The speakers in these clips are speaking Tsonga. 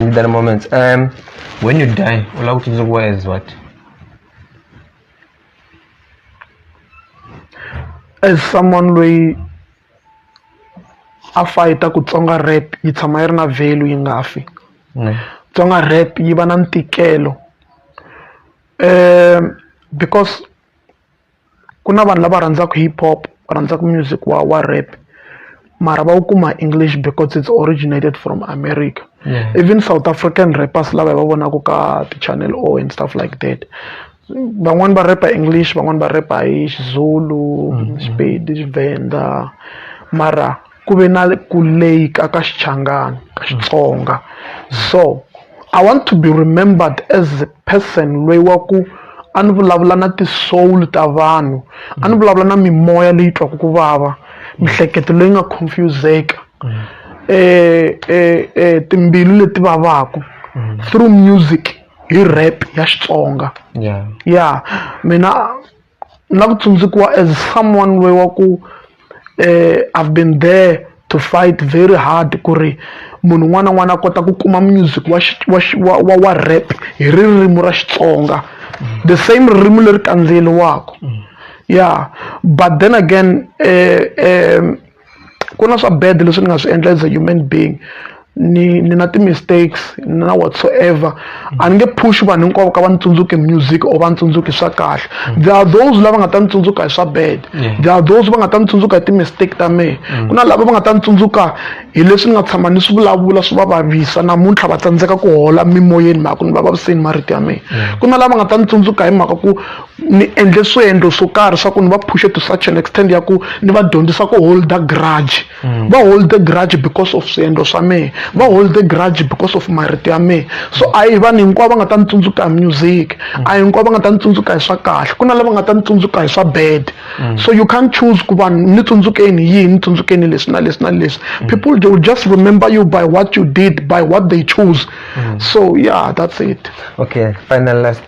in that moment um when you die ola kuti nzokuwa as what as someone loyi a fayita ku tsonga rap yi tshama yi ri na value yi nga fi mm. tsonga rap yi va na ntikelo um because ku na vanhu lava rhandzaka hip hop va rhandzaka music wa wa rap mara va wu kuma english because it's originated from america yeah. even south african rappers lava hi va vonaka ka ti-channel o and stuff like that van'wani va repa english van'wani va repa hi xizulu mm-hmm. xipedi xivenda mara ku ve na ku leyika ka xichangani ka xitsonga so i want to be remembered as a person loyi wa ku a ni vulavula na ti-soul ta vanhu a ni vulavula na mimoya leyi twaka ku vava mihleketo leyi nga confuseka um um timbilu leti vavaka through music hi rap ya xitsonga ya mina na ku tsundzukiwa as someone loyi wa ku I've been there to fight very hard ku ri munhu un'wana na un'wana a kota ku kuma music wa wa wa wa rap hi ririmi ra Xitsonga the same ririmi leri kandziyeriwaka ya but then again um ku na swa bad leswi ni nga swi endla as a human being ni ni na ti-mistakes na whatsoever a ni nge push vanhu hinkwavo ka va ni tsundzuki music or va ni tsundzuki swa kahle mm. there are those lava nga ta ni tsundzuka hi swa bad there are those va nga ta ni tsundzuka hi ti-mistake ta mehe mm. ku na lava va nga ta ni tsundzuka hi leswi ni nga tshama ni swi vulavula swi va vavisa namuntlha va tsandzeka ku hola mimoyeni mhaka ku ni va vaviseni marito ya mehe ku na lava nga ta ni tsundzuka hi mhaka ku ni endle swiendlo swo karhi swa ku ni va phushe to such an extent ya ku ni va dyondzisa ku holda grudge mm. va holde grudge because of swiendlo swa mehe va holde grudge because of marito ya mehe so a hi vanhu hinkwavo va nga ta ni tsundzuka hi music mm. a hi hinkwavo va nga ta ni tsundzuka hi swa kahle ku na lava nga ta ni tsundzuka hi swa bad mm. so you can't choose ku vanhu ni tsundzukeni yihi ni tsundzukeni leswi na leswi na leswi people they will just remember you by what you did by what they choose so yeah that's it okay final last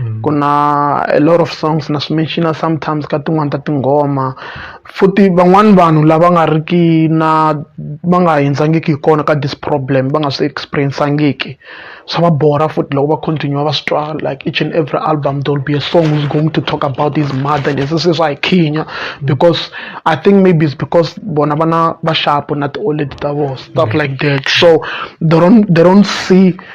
Mm. ku na a lot of songs na swi mention sometimes ka tin'wani ta tinghoma futhi van'wani vanhu lava nga ri ki na va nga hindzangiki hi kona ka this problem va nga swi experiencangiki swa va bora futhi loko va continue va swi twa like each and every album there will be a song who's going to talk about his mother and this is why khinya because i think maybe it's because bona vana va shapo na ti-oled ta vo stuff mm. like that so they don't, they don't see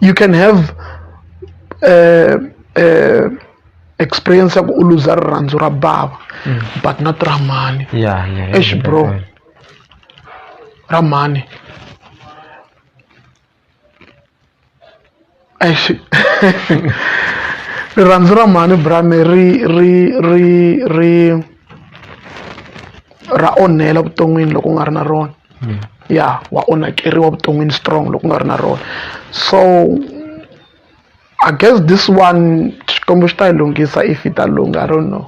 you can have uh, uh, experience ya ku u luza rirhandzu ra bava mm. but not ra mhani yeah, yeah, yeah, ex bro yeah, yeah. ra mhani exi rirhandzu ra mhani brame ri ri ri ri ra onhela vuton'wini loko u nga ri na rona ya wa onhakeriwa vuton'wini strong loko u nga ri na rona so i guess this one xikwembu xi ta yi lunghisa if yi ta lungha i don't know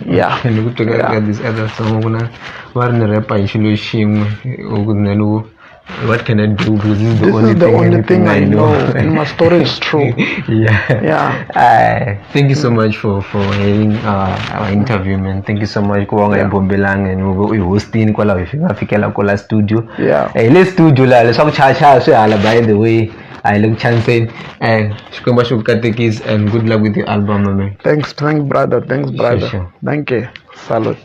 ya ni ku teka ka this other song ku na va ri ni repa hi xilo xin'we or ku then u what can I do? Because this is the, this only, is the thing only thing I know. I know. My story is true. yeah. Yeah. I, thank you so much for for having uh, our interview man thank you so much ku va nga hi bombelanga and u hi hostini kwalaho hi nga fikela ko la studio Yeah. eh le studio la leswaku chaya chaya swi hala by the way a hi le ku chaniseni and xikwembu xi ku katekisi and good luck with your album my man thanks thank brother thanks brother sure. thank you salute